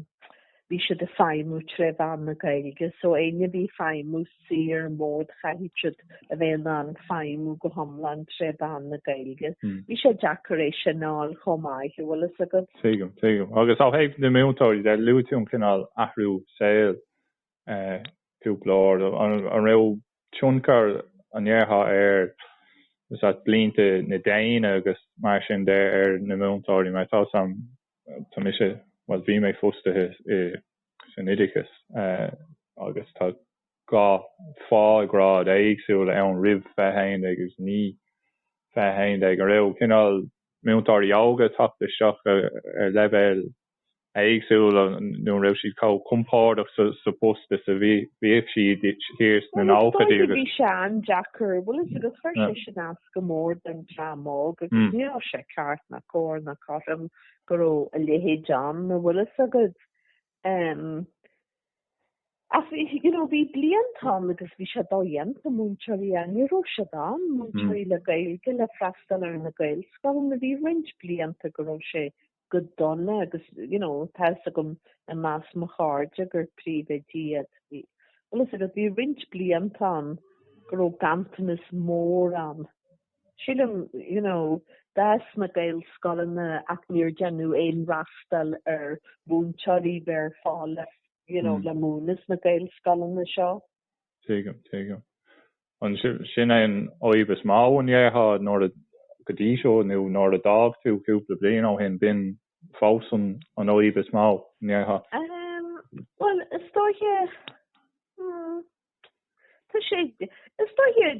[SPEAKER 1] bhí siad ag feidhmiú tré mheán na Gaeilge so éinne a bhí ag feidhmiú saor in mód chaithfead siad a bheith in ann feidhmiú go hiomlán tré mheán na Gaeilge. Mm. Bhí sé deacair é sin a fháil chomh maith a bhfuil fhios agat. Tuigim, tuigim. Agus
[SPEAKER 2] ó thaobh na múinteoirí de, luaigh tú an cineál athrú saoil cúpla uair. An raibh tionchar, an ndéarfá, ar bhlianta na déine agus mar sin de ar na múinteoirí? Mar tá san, tá mise, bhuel bhí mé fostaithe san oideachas agus tá dhá phághrád éagsúla ann roimh 20 11 agus i ndiaidh 20 11. An raibh cineál múinteoirí óga ag teacht isteach ar leibhéal éagsúla nó an raibh siad chomh compordach sa bpost is a bhíodh siad thiar sna nóchaidí agus. Bhí sé
[SPEAKER 1] an-deacair, bhfuil 'fhios agat, agus chuir sé sin as go mór don dream óg agus ní raibh sé ceart ná cóir ná cothrom go raibh a leithéid ann a' bhfuil 'fhios agad. Em. Ach bhí, you know, bhí blianta ann agus bhí sé dodhéanta múinteoirí a, ní raibh siad ann, múinteoirí le Gaeilge le freastal ar na Gaelscoileanna, bhí roinnt blianta go raibh sé go dona, agus you know tá's agam i measc mo chairde gur príomhoidí iad. Bhfuil fhios agat, bhí roinnt blianta ann go raibh ganntanas mór ann. Sílim you know d'fhás na Gaelscoileanna ach níor deineadh aon fhreastal ar mhúinteoirí bheith ar fáil le you know le múineadh sna Gaelscoileanna seo. Tuigim,
[SPEAKER 2] tuigim. An, sin é an fhadhb is mó an ndéarfá nuair a, go dtí seo nó nuair a d'fhág tú cúpla bliain ó shin, b'in fós an fhadhb is mó, an
[SPEAKER 1] ndéarfá? Bhuel, is dóiche, tá sé, is dóiche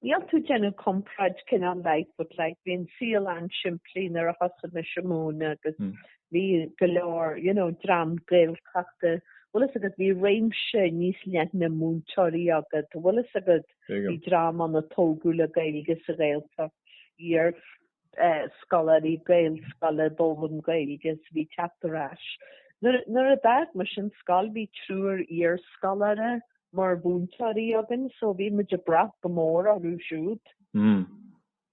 [SPEAKER 1] Níl tú ag déanamh comparáid cineál leithéid but like bhí an saol an-simplí nuair a thosaigh na Sixties agus bhí go leor you know dream Gaeltachta bhfuil fhios agat bhí réimse níos leithne múinteoirí agat bhfuil fhios agat bhí dream ann a tógadh le Gaeilge sa Ghaeltacht iar scoláirí Gaelscoile go raibh an Ghaeilge is a bhí ag teacht ar ais. Nuair a d'fhág mise an scoil bhí triúr iarscoláire mar mhúinteoirí againn so bhí muid ag brath go mór orthu siúd.
[SPEAKER 2] Mm.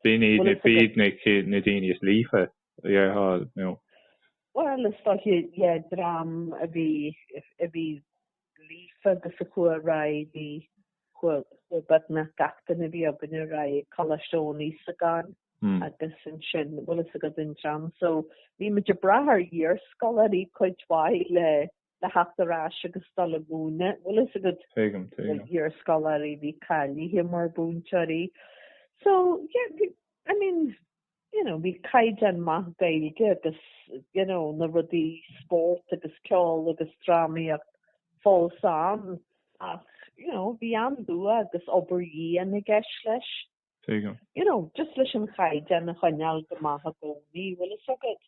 [SPEAKER 2] B'in iad na, b'iad na, na daoine is líofa, yeah, thall, no. Bhuel, is
[SPEAKER 1] dóiche, yeah, dream a bhí, a bhí. líofa agus a chuaidh ar aghaidh chuaigh beagnach gach duine a bhí againn ar aghaidh go Coláiste Eoin Íosagáin agus ansin bhfuil fhios agat an dream so bhí muid ag brath ar iar-scoláirí cuid mhaith le le teacht ar ais agus dul ag múineadh bhfuil fhios agat Tuigim, tuigim. iar-scoláirí a bhí cáilithe mar mhúinteoirí so yeah I mean you know bhí caighdeán maith Gaeilge agus you know na rudaí spórt agus ceol agus drámaíocht fós ann ach you know bhí an dua agus obair dhian i gceist leis. You know just leis an chaighdeán a choinneáil go maith i gcónaí bhfuil fhios agat.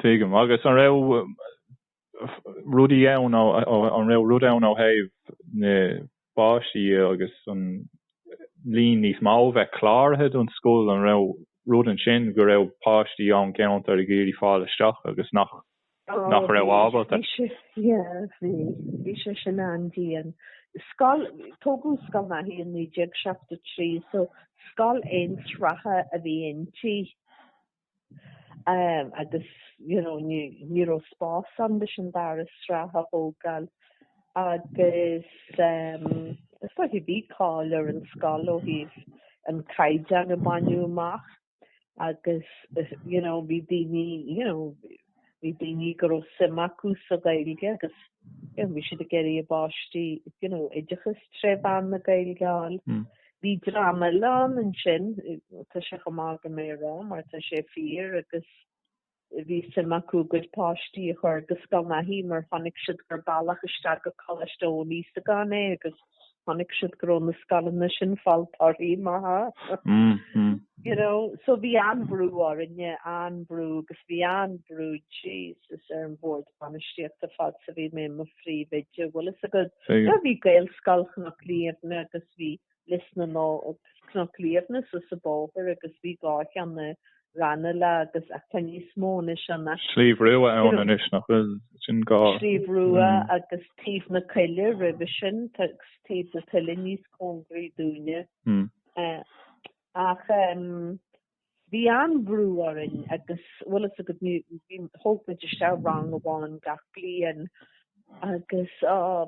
[SPEAKER 1] Tuigim
[SPEAKER 2] agus an raibh rudaí ann ó, ó, an raibh rud ann ó thaobh na bpáistí dhe agus an líon níos mó bheith cláraithe don scoil, an raibh rud ansin go raibh páistí ón gceantar ag iarraidh fáil isteach agus nach, nach raibh ábalta? Bhí sé, yeah, bhí,
[SPEAKER 1] bhí sé sin an-dian. Scoil, tógadh Scoil Naithí i 1973 so scoil aon-sraithe a bhí inti. agus you know ní ní raibh spás ann leis an dara sraith a thógáil agus is like bhí cáil ar an scoil ó thaobh an caighdeán a baineadh amach agus you know bhí daoine you know bhí daoine go raibh suim acu sa Ghaeilge agus bhí siad ag iarraidh a bpáistí you know oideachas tré mheán na Gaeilge a fháil. Bhí dream eile ann ansin, tá sé chomh maith agam é a rá mar tá sé fíor agus bhí suim acu a gcuid páistí a chur go Scoil Naithí mar chonaic siad gur bealach isteach go Coláiste Eoin Íosagáin é agus chonaic siad go raibh na scoileanna sin ag fáil torthaí maithe. You know, so bhí an-bhrú orainne, an-bhrú, agus bhí an-bhrú, Jesus, ar an Bhord Bainistíochta fad is a bhí mé i mo phríomhoide. Bhfuil fhios agat, bhí Gaelscoil Chnoc Liamhna agus bhí Lios na nÓg, Cnoc Liamhna suas an bóthar agus bhí dhá cheann i Ranelagh agus ach tá níos mó anois ann. Sliabh Rua
[SPEAKER 2] ann anois nach bhfuil? Sin é. Sliabh Rua agus
[SPEAKER 1] Taobh na Coille roimhe sin tá Taobh na Coille níos cóngaraí dúinne. Ach bhí an-bhrú orainn agus bhfuil fhios agat bhí, thóg muid isteach rang amháin gach bliain agus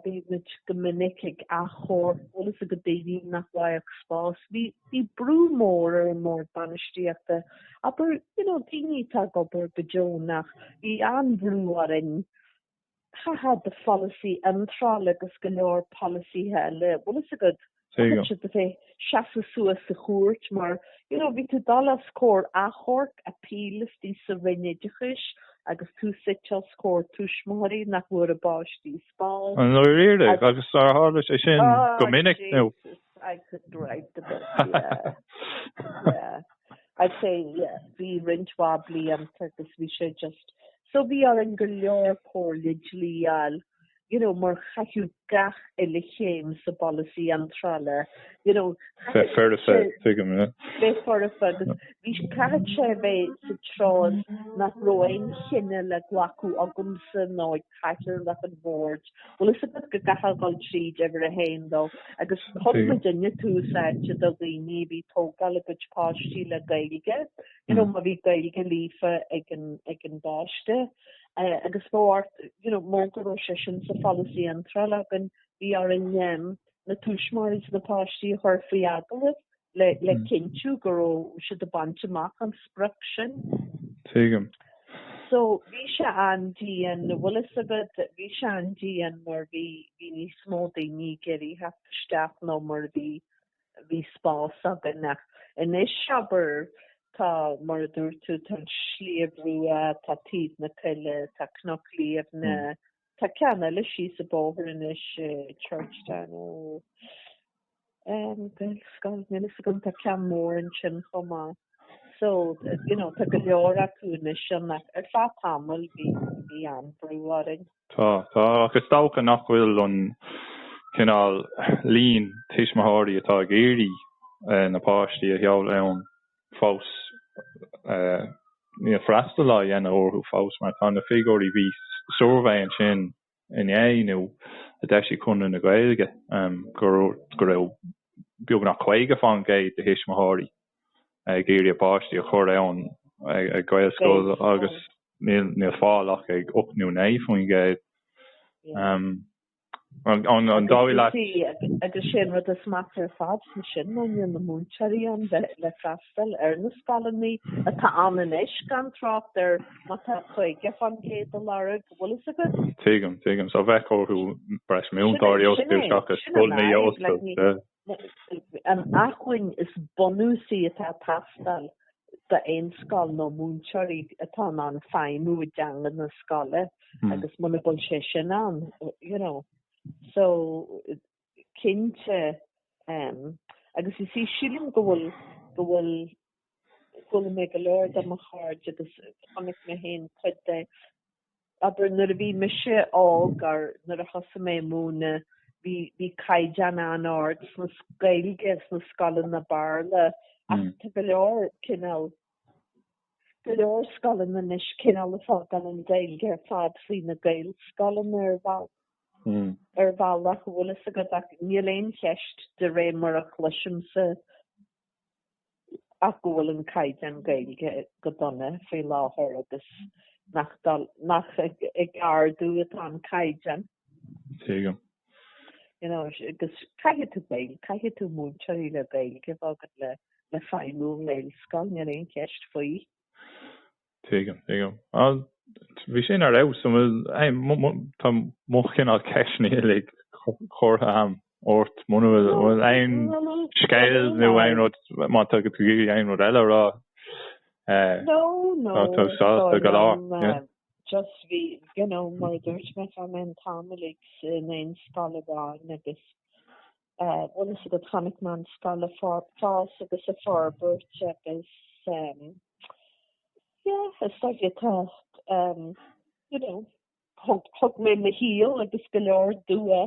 [SPEAKER 1] bhí muid go minic ag achomhairc bhfuil fhios agat daoine nach bhfaigheadh spás. Bhí bhí brú mór ar an mbord bainistíochta abair you know, daoine atá ag obair go deonach, bhí an-bhrú orainn ó thaobh polasaí iontráil agus go leor polasaithe eile bhfuil fhios agat seasamh suas sa chúirt mar you know bhí tú dul os comhair achomhairc, appeal istigh sa Roinn Oideachais agus tú suite os comhair tuismitheoirí nach bhfuair a bpáistí spás. An oiread é
[SPEAKER 2] agus ar tharla sé sin go minic nó. Oh Jesus I
[SPEAKER 1] could write the book yeah yeah I'd say yeah bhí roinnt mhaith blianta agus bhí sé just so bhí orainn go leor comhairle dlí a fháil you know, mar chaithfeadh gach uile chéim sa bpolasaí iontrála, you know,
[SPEAKER 2] Bheith foirfe, tuigim, yeah. bheith foirfe agus
[SPEAKER 1] bhí, chaithfeadh sé a bheith sa gcás nach raibh aon chinneadh le glacadh agamsa nó ag cathaoirleach an bhoird. Bhfuil fhios agat go gcaithfeá dhul tríd uimhir a haon dó. Agus thug muidne tús áite do dhaoine a bhí ag tógáil a gcuid páistí le Gaeilge, you know, má bhí Gaeilge líofa ag an, ag an bpáiste. eh, agus bhí ort, you know, mar go raibh sé sin sa pholasaí iontrála againn, bhí orainn um, na tuismitheoirí is na páistí a chur faoi agallamh le, le hmm. cinntiú go raibh siad ag baint amach an sprioc sin.
[SPEAKER 2] Tuigim.
[SPEAKER 1] So bhí sé an-dian bhfuil fhios agat bhí sé an-dian mar bhí bhí níos mó daoine ag iarraidh theacht isteach ná mar bhí bhí spás againn ach anois abair tá, mar a dúirt tú, tá Sliabh Rua, tá Taobh na Coille, tá Cnoc Liamhna, tá ceann eile síos an bóthar anois, Churchtown ó ehm Gaelscoil, níl a fhios agam, tá ceann mór ansin chomh maith. So, you know, tá go leor acu anois ann ach ar feadh tamaill bhí bhí an-bhrú orainn. Tá,
[SPEAKER 2] tá, ach is dócha nach bhfuil an cineál líon tuismitheoirí atá ag iarraidh na páistí a sheoladh ann fós, níl freastal á dhéanamh orthu fós mar tá na figiúirí, bhí suirbhé ansin inné nó inniu a d'eisigh Conradh na Gaeilge go raibh beagnach 50% de thuismitheoirí ag iarraidh a bpáistí a chur ann ag Gaelscoil agus níl fáil ach ag 8 nó 9 faoin gcéad. An dóigh leat? Agus sin
[SPEAKER 1] rud is measa ar fad faoi sin ná níl na múinteoirí ann le freastal ar na scoileanna atá ann anois gan trácht ar má tá 50 fán gcéad a lorg, bhfuil fhios agat? Tuigim, tuigim. So bheadh
[SPEAKER 2] orthu breis múinteoirí a fhostú seachas scoileanna a oscailt.
[SPEAKER 1] an acmhainn is bunúsaí atá ag teastáil d'aon scoil ná múinteoirí atá in ann feidhmiú i dteanga na scoile agus muna bhfuil sé sin ann you know so cinnte um, agus ísí sílim go bhfuil go bhfuil chuala mé go leor de mo chairde agus tháinig na haon chuid de Abair nuair a bhí mise óg nó nuair a thosaigh mé ag múineadh bhí bhí caighdeán an-ard sna Gaeilge sna scoileanna Béarla ach tá go leor cineál go leor scoileanna anois cineál ag fágáil an Gaeilge ar fad faoi na Gaelscoileanna ar bheal ar bhealach bhfuil fhios agat ach níl aon cheist de réir mar a chloisimse ach go bhfuil an caighdeán Gaeilge go dona faoi láthair agus nach ag ardú atá an caighdeán. Tuigim.
[SPEAKER 2] You know,
[SPEAKER 1] agus caithfidh tú Gaeilge, caithfidh tú múinteoirí le Gaeilge bheith agat le le feidhmiú i nGaelscoil, níl aon cheist faoi.
[SPEAKER 2] Tuigim, tuigim. Bhuel, bhí sin ar fheabhas. An bhfuil, hey, tá mo chineál ceisteanna uilig curtha a'm ort. Muna bhfuil, an bhfuil aon scéal nó aon rud, má thug tú aon rud eile a rá,
[SPEAKER 1] tá tú sásta go
[SPEAKER 2] leor, yeah? Just bhí,
[SPEAKER 1] you know, mar a dúirt mé, tá mé an t-am uilig in aon scoil amháin agus. bhfuil fhios agat chonaic mé an scoil ag fás agus ag forbairt agus yeah is dóigh liom tá you know thug mé mo shaol agus go leor dua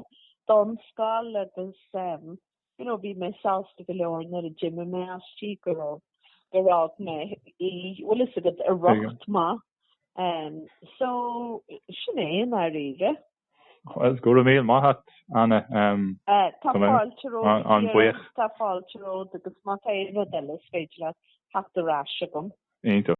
[SPEAKER 1] don scoil agus you know bhí mé sásta go leor nuair a d'imigh mé aisti gur fhág mé í bhfuil fhios agat i riocht maith so sin é i ndáiríre. Bhuel, go
[SPEAKER 2] raibh míle maith a't, Anna. Tá
[SPEAKER 1] fáilte romhat,
[SPEAKER 2] tá fáilte
[SPEAKER 1] romhat agus má tá aon rud eile is féidir
[SPEAKER 2] leat
[SPEAKER 1] theacht ar ais agam. Iontach.